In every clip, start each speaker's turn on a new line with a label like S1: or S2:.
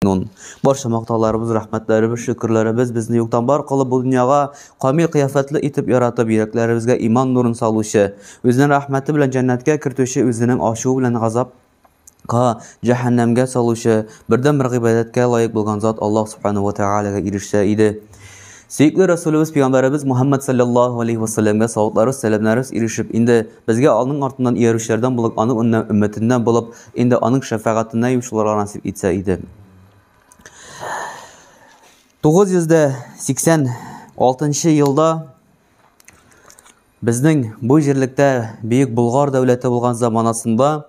S1: Нун. Барча мактауларыбыз, рәхмәтләребез, шөкерләребез безне юктан бар кылып бу дөньяга камил кыяфәтле итеп яратып, йөрәкләребезгә иман нурын салучы, үзенең рәхмәте белән җәннәткә кертүче, үзенең ачуы белән газапка, җәһәннәмгә салучы, бердәнбер гыйбадәткә лаек булган зат Аллаһ Субхана ва Тәгаләгә ирешсә иде. Сөекле Рәсүлебез Пәйгамбәребез Мухаммад саллаллаһу алейһи ва сәлләмгә савытларыбыз, сәламнәребез ирешеп, инде безгә аның артыннан иярүчеләрдән булып, аның өммәтеннән булып, Инде аның шәфәгатенә йомшылырга насип итсә иде. 986 елда безнең бу җирлектә бөек Болгар дәүләте булган заманасында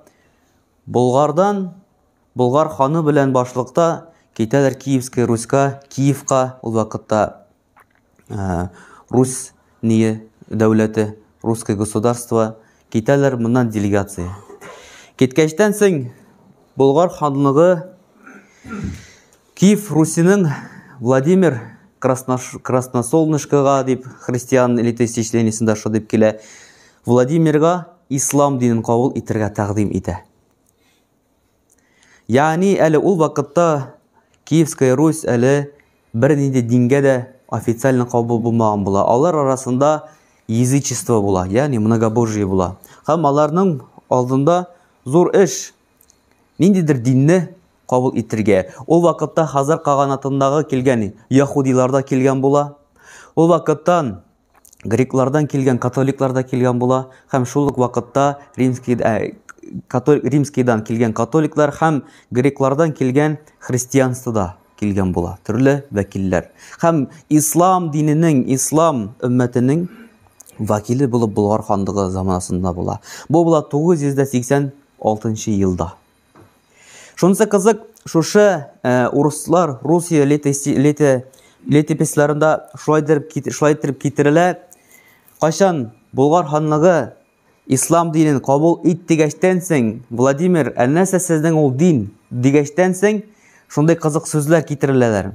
S1: Болгардан Болгар ханы белән башлыкта китәләр Киевская Руська, Киевка ул вакытта ә, Рус ние дәүләте, русское государство, китәләр моннан делегация. Киткәчтән соң Болгар ханлыгы Киев Русинең Владимир Красносолнышкага дип христиан элиты исечлениесендә шо дип килә. Владимирга ислам динен кабул итәргә тәкъдим итә. Ягъни әле ул вакытта Киевская Русь әле бернинди дингә дә официально кабул булмаган була. Алар арасында язычество була, ягъни многобожие була. Һәм аларның алдында зур эш ниндидер динне кабул итергә. Ул вакытта Хазар каганатындагы килгән яхудилар да килгән була. Ул вакыттан греклардан килгән католиклар да килгән була һәм шул ук вакытта римский ә, катол, римскийдан килгән католиклар һәм греклардан килгән христианство да килгән була төрле вәкилләр һәм ислам диненең ислам өммәтенең вәкиле булып болгар ханлыгы заманасында була бу була 986 елда Шунысы кызык, шушы э, урыслар Русия летописьларында шулай итеп китерелә. Кайчан Болгар ханлыгы ислам динен кабул ит дигәчтән соң, Владимир, ә нәрсә сезнең ул дин дигәчтән соң, шундый кызык сүзләр китереләләр.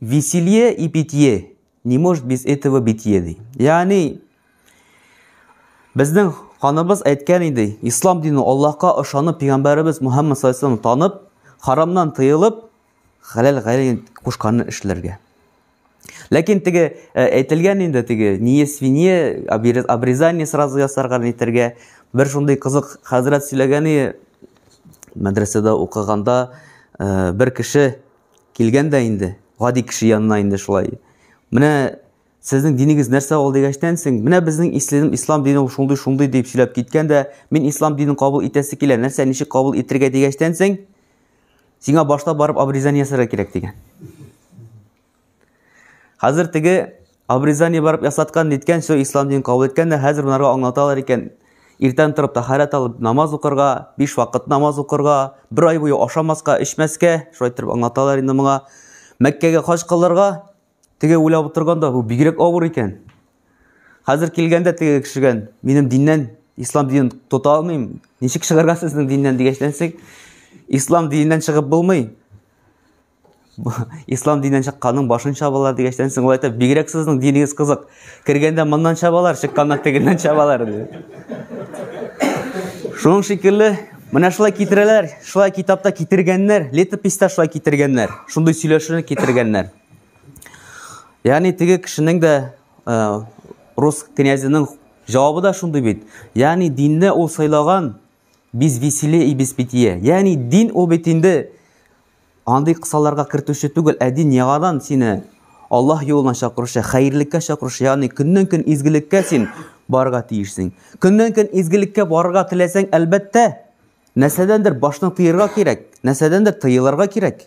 S1: Веселье и питье не может без этого битье ди. Ягъни безнең ханыбыз әйткән иде, ислам дине Аллаһка ышанып, пәйгамбәребез Мухаммад саллаллаху танып, харамнан тыелып, хәләл гәйлен кушканны эшләргә. Ләкин теге э, әйтелгән инде теге не свинье, обрезание сразу ясарга әйтергә. Бер шундый кызык хәзрәт сөйләгәне мәдрәсәдә укыганда э, бер кеше Килгән дә инде, гади кеше янына инде шулай. Менә сезнең динегез нәрсә ул дигәчтән соң, менә безнең ислам, ислам дине ул шундый шундый дип сөйләп киткән дә, мин ислам динен кабул итәсе килә, нәрсә ничек кабул итергә дигәчтән соң, сиңа башта барып обрезание ясарга кирәк дигән. Хәзер теге Обрезание барып ясаткан, ниткән, все ислам дин кабул иткән дә, хәзер монарга аңлаталар икән. Иртән торып тахарат алып намаз укырга, 5 вакыт намаз укырга, бер ай буе ашамаска, эчмәскә, шулай торып аңлаталар инде моңа. Мәккәгә хаҗ кылырга, теге уйлап утырганда бу бигрәк авыр икән. Хәзер килгәндә теге кешегән, минем диннән, ислам динен тота алмыйм. Ничек чыгарга сезнең диннән дигәчләнсәк, ислам диненнән чыгып булмый. ислам динен чыкканның башын чабалар дигәчтән соң ул әйтә бигрәк сезнең динегез кызык кергәндә моннан чабалар чыкканда тегеннән чабалар ди шуның шикелле менә шулай китерәләр шулай китапта китергәннәр летописта шулай китергәннәр шундый сөйләшүне китергәннәр ягъни теге кешенең дә э, рус князенең җавабы да шундый бит ягъни динне ул сайлаган без веселее и без питье ягъни дин ул бит инде Андый кысаларга кертүче түгел, ә дин яңадан сине Аллаһ юлына чакыручы, хәерлеккә чакыручы, ягъни көннән-көн изгелеккә син барырга тиешсең. Көннән-көн изгелеккә барырга теләсәң, әлбәттә, нәрсәдәндер башны тыерга кирәк, нәрсәдәндер тыелырга кирәк.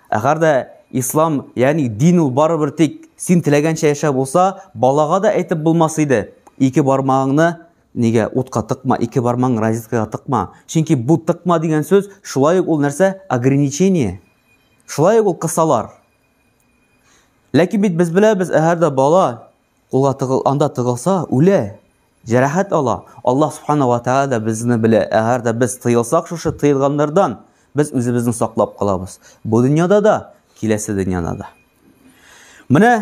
S1: Әгәр дә ислам, ягъни дин ул барыбер тик син теләгәнчә яшәп булса, балага да әйтеп булмас иде. Ике бармагыңны Нигә утка тыкма, ике бармагың розеткага тыкма? Чөнки бу тыкма дигән сүз шулай ук ул нәрсә? Ограничение. Шулай ук ул кысалар. Ләкин бит без беләбез, әгәр дә бала кулга тыгыл, анда тыгылса, үлә, җәрәхәт ала. Аллаһ субхана ва тәгалә дә безне белә. Әгәр дә без тыелсак шушы тыелганнардан, без үзебезне саклап калабыз. Бу дөньяда да, киләсе дөньяда да. Менә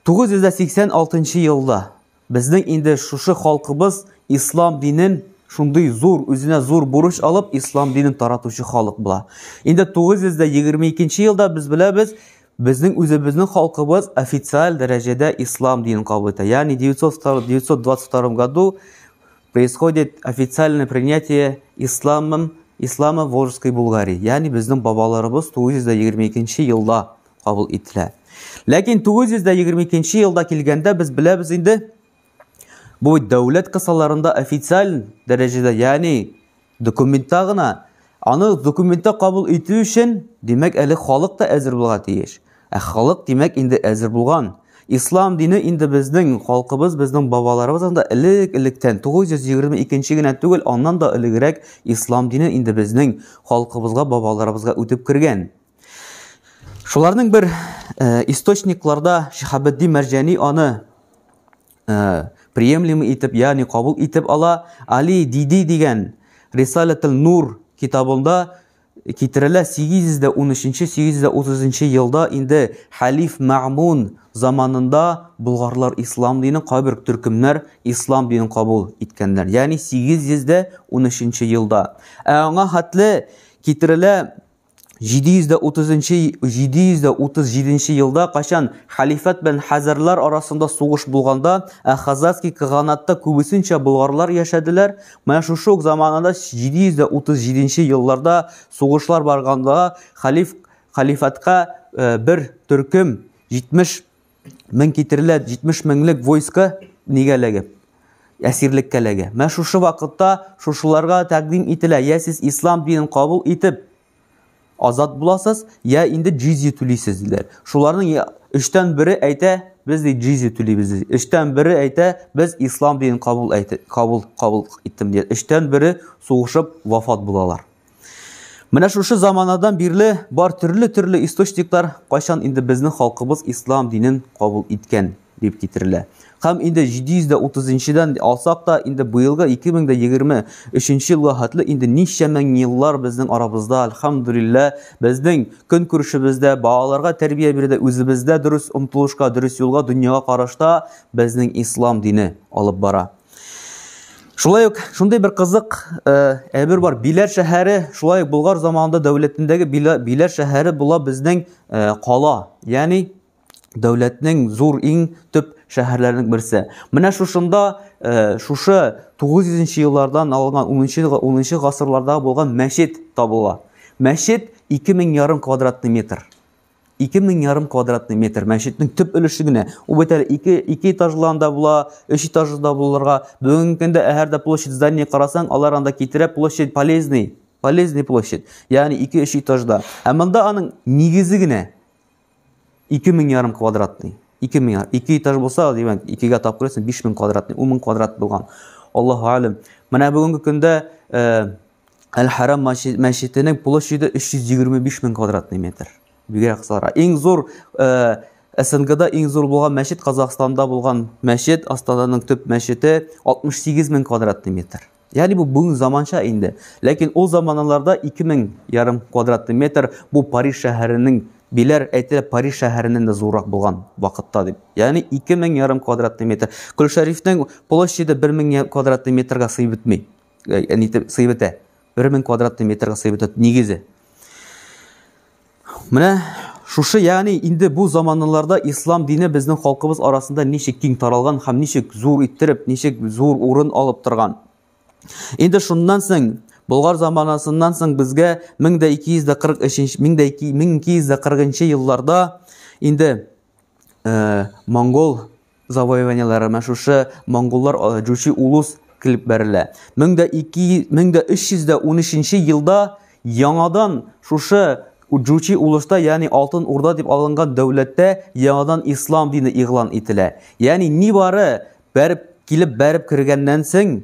S1: 986 нчы елда безнең инде шушы халкыбыз ислам динен шундый зур, үзенә зур бурыч алып, ислам динен таратучы халык була. Инде 922 нчы елда без беләбез, безнең үзебезнең халкыбыз официаль дәрәҗәдә ислам динен кабул итә. Ягъни 922 году происходит официальное принятие исламом ислама Волжской Булгарии. Ягъни безнең бабаларыбыз 922 елда кабул ителә. Ләкин 922 елда килгәндә без беләбез инде, бу дәүләт кысаларында официаль дәрәҗәдә, ягъни документта гына, аны документта кабул итү өчен, димәк, әле халык та әзер булга тиеш. Ә халык, димәк, инде әзер булган. Ислам дине инде безнең халкыбыз, безнең бабаларыбыз анда элек-электән 922 генә түгел, аннан да элегрәк ислам дине инде безнең халкыбызга, бабаларыбызга үтеп кергән. Шуларның бер э, источникларда Шихабетдин Мәрҗәни аны э, приемлемый итеп, ягъни кабул итеп ала. Али Диди дигән Рисалатул Нур китабында китерелә 813-830 елда инде Халиф Мәгмун заманында булгарлар ислам динен кайбер төркемнәр ислам динен кабул иткәннәр. Ягъни 813 елда. Ә аңа хәтле китерелә 737 елда качан хәлифәт белән хәзәрләр арасында сугыш булганда, ә Хазарский каганатта күбесенчә болгарлар яшәделәр, менә шушы ук заманада 737 елларда сугышлар барганда хәлиф хәлифәткә бер төркем 70 мең китерелә 70 меңлек войска нигә эләгә? Әсирлеккә эләгә. Менә шушы вакытта шушыларга тәкъдим ителә, я сез ислам динен кабул итеп азат буласыз, я инде джизия түлисез диләр. Шуларның өчтән бере әйтә, без ди джизия түлибез ди. Өчтән бере әйтә, без ислам динен кабул әйтә, кабул кабул иттем ди. Өчтән бере сугышып вафат булалар. Менә шушы заманадан бирле бар төрле-төрле источниклар кайчан инде безнең халкыбыз ислам динен кабул иткән дип китерелә. Һәм инде 730-дән алсак та, инде быелгы 2023 елга хәтле инде ничә мең еллар безнең арабызда, альхамдулилла, безнең көн күршебездә, балаларга тәрбия бирде, үзебездә дөрес омтылышка, дөрес юлга, дөньяга карашта безнең ислам дине алып бара. Шулай ук шундый бер кызык э, әйбер бар. Биләр шәһәре, шулай ук Болгар заманында дәүләтендәге Биләр шәһәре була безнең э, кала. Ягъни дәүләтнең зур иң төп шәһәрләренең берсе. Менә шушында э, шушы 900 еллардан алынган 10-10 гасырларда булган мәчет табыла. Мәчет 2000 ярым квадратный метр. ике мең ярым квадратный метр мәчетнең төп өлеше генә ул бит әле ике ике этажлы анда була өч этажлы да булырга бүгенге көндә әһәрдә площадь здания карасаң алар анда китерә площадь полезный полезный площадь ягъни ике өч этажда ә монда аның нигезе генә ике мең ярым квадратный ике мең ике этаж булса димәк икегә тап күрәсең биш мең квадратный ун мең квадрат булган аллаһу әлем менә бүгенге көндә э, Әл-Харам мәчетенең площаде 325 мең квадратный метр. Бигрәк сара. Иң зур э, СНГда иң зур булган мәчет Казахстанда булган мәчет, Астананың төп мәчете 68 мең квадратный метр. Ягъни бу бүген заманча инде. Ләкин ул заманаларда 2000 ярым квадратный метр бу Париж шәһәренең биләр әйтелә Париж шәһәреннән дә зуррак булган вакытта дип. Ягъни 2000 ярым квадратный метр. Көлшәрифнең площаде 1000 квадратный метрга сыйып бетми. э, нитеп сыеп итә. 1000 квадратный метрга сыеп итә нигезе. Менә шушы, ягъни инде бу заманларда ислам дине безнең халкыбыз арасында ничек киң таралган һәм ничек зур иттереп, ничек зур урын алып торган. Инде шуннан соң Болгар заманасыннан соң безгә 1243 1240 елларда инде э, монгол завоеваниеләре, менә шушы монголлар э, Җучи улус килеп бәрелә. 1313 елда яңадан шушы Җучи улышта, ягъни Алтын Урда дип алынган дәүләттә яңадан ислам дине игълан ителә. Ягъни нибары бәреп килеп бәреп кергәннән соң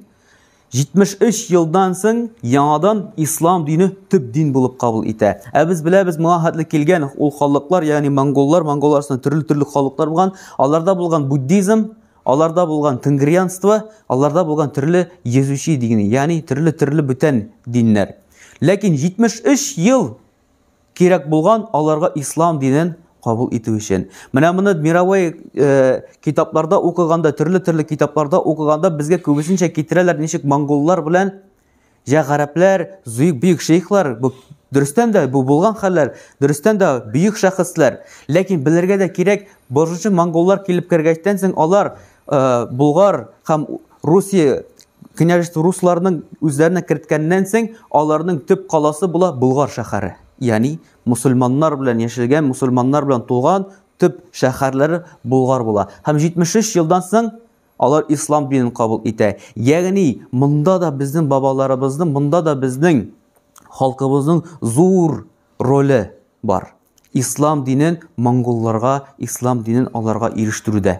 S1: 73 елдан соң яңадан ислам дине төп дин булып кабул итә. Ә без беләбез, моңа хәтле килгән ул халыклар, ягъни монголлар, монгол арасында төрле-төрле халыклар булган, аларда булган буддизм, аларда булган тенгрианство, аларда булган төрле езүчи дине, ягъни төрле-төрле бүтән диннәр. Ләкин 73 ел Кирәк булган аларга ислам динен кабул итү өчен. Менә моны мировой э, китапларда укыганда, төрле-төрле китапларда укыганда безгә күбесенчә китерәләр ничек монголлар белән җә гарәпләр, зөйк бөек шейхлар, бу дөрестән дә бу булган хәлләр, дөрестән дә бөек шәхесләр. Ләкин белергә дә кирәк, башынчы монголлар килеп кергәчтән соң алар э, Булгар һәм Русия Княжество русларның үзләренә керткәннән соң, аларның төп каласы була Болгар шәһәре. Ягъни мусульманнар белән яшәгән, мусульманнар белән тулган төп шәһәрләре Болгар була. Һәм 73 елдан соң алар ислам динен кабул итә. Ягъни монда да безнең бабаларыбызның, монда да безнең халкыбызның зур роле бар. Ислам динен монголларга, ислам динен аларга ирештерүдә.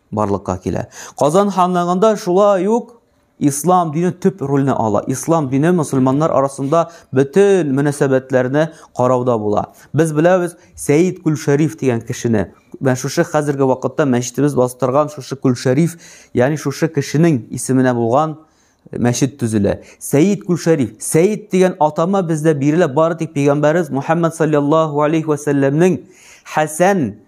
S1: барлыкка килә. Казан ханлыгында шулай ук ислам дине төп рольне ала. Ислам дине мусульманнар арасында бөтен мөнәсәбәтләрне карауда була. Без беләбез Сәид Күлшәриф дигән кешене. Менә шушы хәзерге вакытта мәчетебез бастырган шушы Күлшәриф, ягъни шушы кешенең исеменә булган мәчет төзелә. Сәид Күлшәриф. Сәид дигән атама бездә бирелә бары тик пәйгамбәрбез Мухаммад саллаллаһу алейхи ва сәлләмнең Хәсән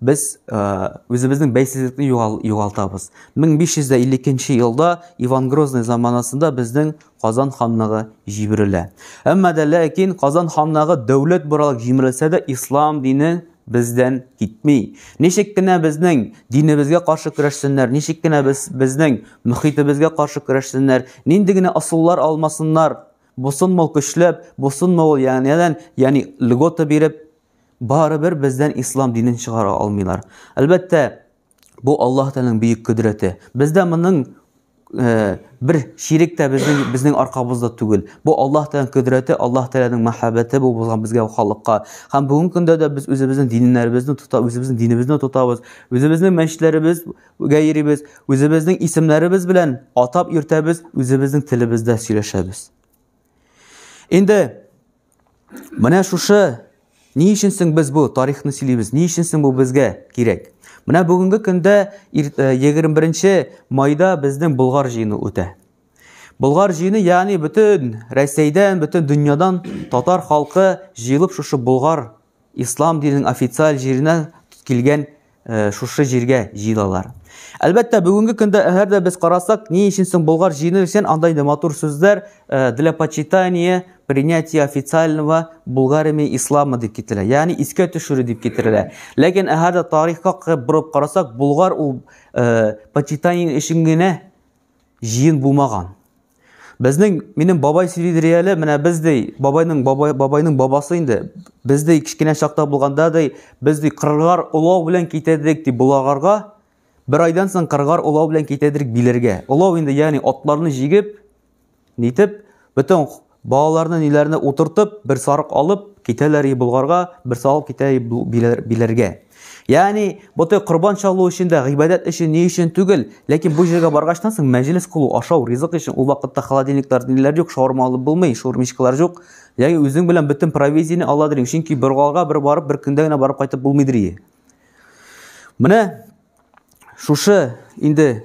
S1: Без үзебезнең бәйсезлекне югалтабыз. 1552 елда Иван Грозный заманасында безнең Казан ханлыгы җибрелә. Әмма дә ләкин Казан ханлыгы дәүләт буралык җимерелсә дә ислам дине бездән китми. Ничек кенә безнең динебезгә каршы көрәшсеннәр, ничек кенә без безнең мөхитебезгә каршы көрәшсеннәр, нинди генә асуллар алмасыннар, бусынмау көчләп, бусынмау ягънидән, ягъни льгота биреп, Барыбер бездән ислам динен чыгара алмыйлар. Әлбәттә, бу Аллаһ Тәгаләнең бөек кодрәте. Бездә моның э, бер ширек тә безнең безнең аркабызда түгел. Бу Аллаһ Тәгаләнең кодрәте, Аллаһ Тәгаләнең мәхәббәте бу булган безгә халыкка. Һәм бүгенге көндә дә без үзебезнең диннәребезне тота, үзебезнең динебезне тотабыз, үзебезнең мәчетләребез гәйрибез, үзебезнең исемнәребез белән атап йөртәбез, үзебезнең телебездә сөйләшәбез. Инде Менә шушы ни өчен соң без бу тарихны сөйлибез? Ни өчен соң бу безгә кирәк? Менә бүгенге көндә 21 э, майда безнең Болгар җыены үтә. Болгар җыены, ягъни бөтен Россиядән, бөтен дөньядан татар халкы җыелып шушы Болгар Ислам диненең официаль җиренә килгән э, шушы җиргә җыелалар. Әлбәттә, бүгенге көндә әгәр дә без карасак, ни өчен соң Болгар җыены өчен анда инде матур сүзләр э, для почитания, принятия официального Булгариями ислама дип китерелә. Ягъни искә төшерү дип китерелә. Ләкин әгәр дә тарихка борып карасак, Булгар ул э, почитание өчен генә җыен булмаган. Безнең минем бабай сөйли дирә әле, менә без ди, бабайның бабай бабайның бабасы инде. Без ди кичкенә чакта булганда ди, без ди кыргар улау белән китәдек ди булагарга. Бер айдан соң кыргар улау белән китәдек биләргә. Улау инде ягъни атларны җигеп Нитеп, бөтен балаларны ниләрне утыртып, бер сарык алып, китәләр и Болгарга, бер сарык китә и Биләргә. Ягъни, бөтен корбан чалу өчен дә, гыйбадәт өчен, ни өчен түгел, ләкин бу җиргә баргачтан соң мәҗлес кылу, ашау, ризык өчен ул вакытта холодильниклар ниләр юк, шаурма алып булмый, шурмичкалар юк. Ягъни, үзең белән бөтен провизияне ала дирим, чөнки бер галга бер барып, бер көндә генә барып кайтып булмый дирие. Менә шушы инде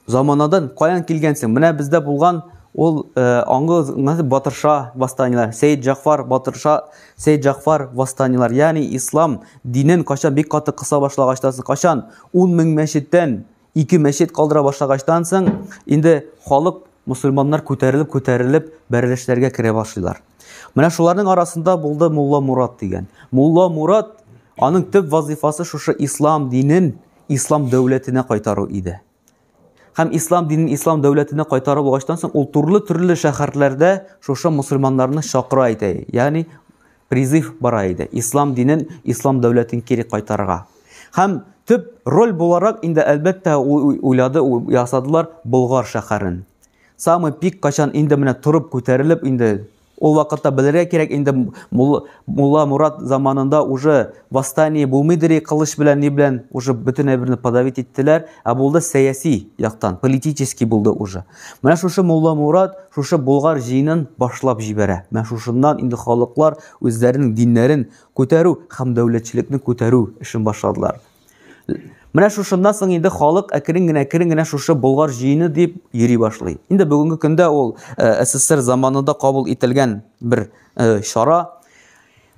S1: Заманадан каян килгәнсең? Менә бездә булган ул э, аңгы батырша восстаниелар, Сәйд Җафар батырша, Сәйд Җафар восстаниелар. Ягъни ислам динен качан бик каты кыса башлагачтан, качан 10 мең мәчеттән ике мәчет калдыра башлагачтан соң, инде халык мусульманнар күтәрелеп күтәрелеп бәрелешләргә керә башлыйлар. Менә шуларның арасында булды Мулла Мурат дигән. Мулла Мурат аның төп вазифасы шушы ислам динен ислам дәүләтенә кайтару иде. Һәм ислам динен ислам дәүләтенә кайтарып алгачтан соң ул төрле-төрле шәһәрләрдә шушы мусульманнарны чакыра иде. Ягъни призыв бара иде. Ислам динен, ислам дәүләтен кире кайтарырга. Һәм төп роль буларак инде әлбәттә уйлады, ясадылар Болгар шәһәрен. Самый пик качан инде менә торып күтәрелеп инде Ул вакытта белергә кирәк инде Мулла Мурат заманында уже восстание булмыйдыр и кылыч белән ни белән уже бөтен әйберне подавить иттеләр, ә булды сәяси яктан, политический булды уже. Менә шушы Мулла Мурат шушы Болгар җыенын башлап җибәрә. Менә шушыннан инде халыклар үзләренең диннәрен күтәрү һәм дәүләтчелекне күтәрү эшен башладылар. Менә шушыннан соң инде халык әкрен генә әкрен генә шушы Болгар җыены дип йөри башлый. Инде бүгенге көндә ул э, СССР заманында кабул ителгән бер э, чара.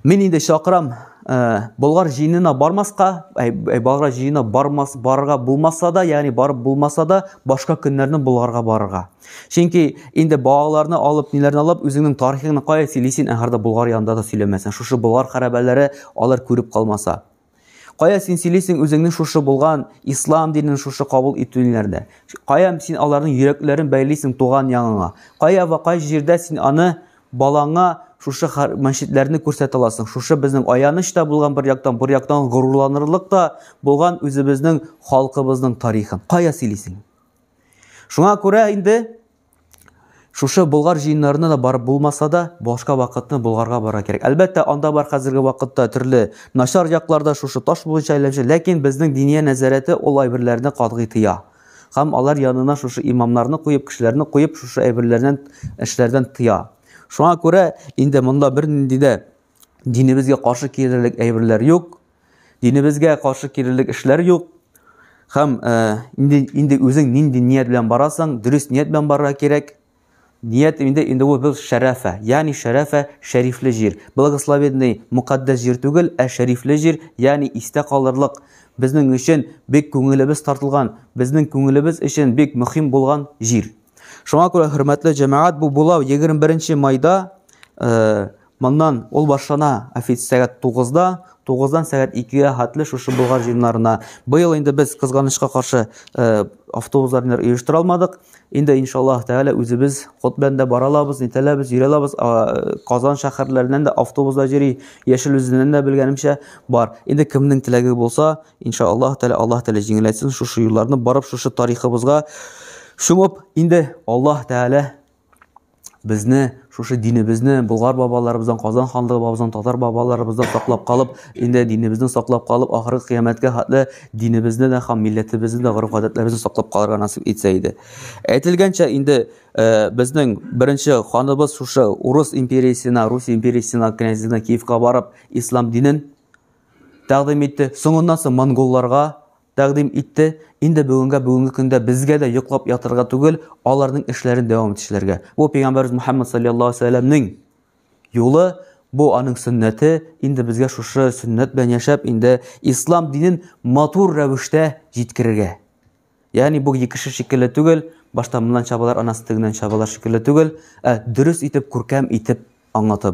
S1: Мин инде чакырам э, Болгар җыенына бармаска, Болгар җыенына бармас барырга булмаса да, ягъни барып булмаса да, башка көннәрне Болгарга барырга. Чөнки инде балаларны алып, ниләрне алып, үзеңнең тарихыңны кая сөйлисең, әгәр дә Болгар янында да сөйләмәсәң, шушы Болгар хәрабәләре алар күреп калмаса. Кая син сөйлисең үзеңнең шушы булган ислам динен шушы кабул итүләрдә? Кая син аларның йөрәкләрен бәйлисең туган яңыңа? Кая ва кай җирдә син аны балаңа шушы мәчетләрне күрсәтә аласың? Шушы безнең аяныч та булган бер яктан, бер яктан горурланырлык та булган үзебезнең халкыбызның тарихын. Кая сөйлисең? Шуңа күрә инде Шушы Болгар җыеннарына да барып булмаса да, башка вакытны Болгарга барырга кирәк. Әлбәттә, анда бар хәзерге вакытта төрле начар якларда шушы таш буенча әйләнеше, ләкин безнең диния нәзарәте ул әйберләрне катгый тыя. Һәм алар янына шушы имамнарны куеп, кешеләрне куеп, шушы әйберләрдән, эшләрдән тыя. Шуңа күрә инде монда бернинди дә динебезгә каршы килерлек әйберләр юк. Динебезгә каршы кирелек эшләр юк. Хәм э, инде инде үзең нинди ният белән барасың, дөрес ният белән барырга кирәк. Ният инде инде ул бил шәрәфә, ягъни шәрәфә шәрифле җир. Благословенный мукаддәс җир түгел, ә шәрифле җир, ягъни истә калырлык. Безнең өчен бик күңелебез тартылган, безнең күңелебез өчен бик мөһим булган җир. Шуңа күрә, хөрмәтле җәмәгать, бу булау 21 майда э, моннан ул башлана офиц сәгать 9-да, 9-дан сәгать 2-гә хәтле шушы Болгар җыеннарына. Быел инде без кызганычка каршы э, автобусларны оештыра алмадык. Инде иншаллаһ тәгалә үзебез ход белән дә бара алабыз, нитәләбез, йөри алабыз. Э, Казан шәһәрләреннән дә автобуслар йөри, Яшел үзеннән дә белгәнемчә бар. Инде кемнең теләге булса, иншаллаһ тәгалә Аллаһ тәгалә җиңеләйтсен шушы юлларны барып шушы тарихыбызга Шуңып инде Аллаһ Тәгалә безне шушы динебезне Болгар бабаларыбыздан, Казан ханлыгы бабыздан, татар бабаларыбыздан саклап калып, инде динебезне саклап калып, ахыргы кыямәткә хәтле динебезне дә һәм милләтебезне дә, гореф-гадәтләребезне саклап калырга насип итсә иде. Әйтелгәнчә, инде э, безнең беренче ханыбыз шушы Урыс империясенә, Рус империясенә, князьлегенә Киевка барып, ислам динен тәкъдим итте. Соңыннан соң монголларга Тәкъдим итте, инде бүгенгә бүгенге көндә безгә дә йоклап ятырга түгел, аларның эшләрен дәвам итүчеләргә. Бу пәйгамбәрбез Мөхәммәд салләллаһу алейһи ва сәлләмнең юлы, бу аның сөннәте, инде безгә шушы сөннәт белән яшәп, инде ислам динен матур рәвештә җиткерергә. Ягъни бу екеше шикелле түгел, башта моннан чабалар, анасы тегеннән чабалар шикелле түгел, ә дөрес итеп, күркәм итеп аңлатып.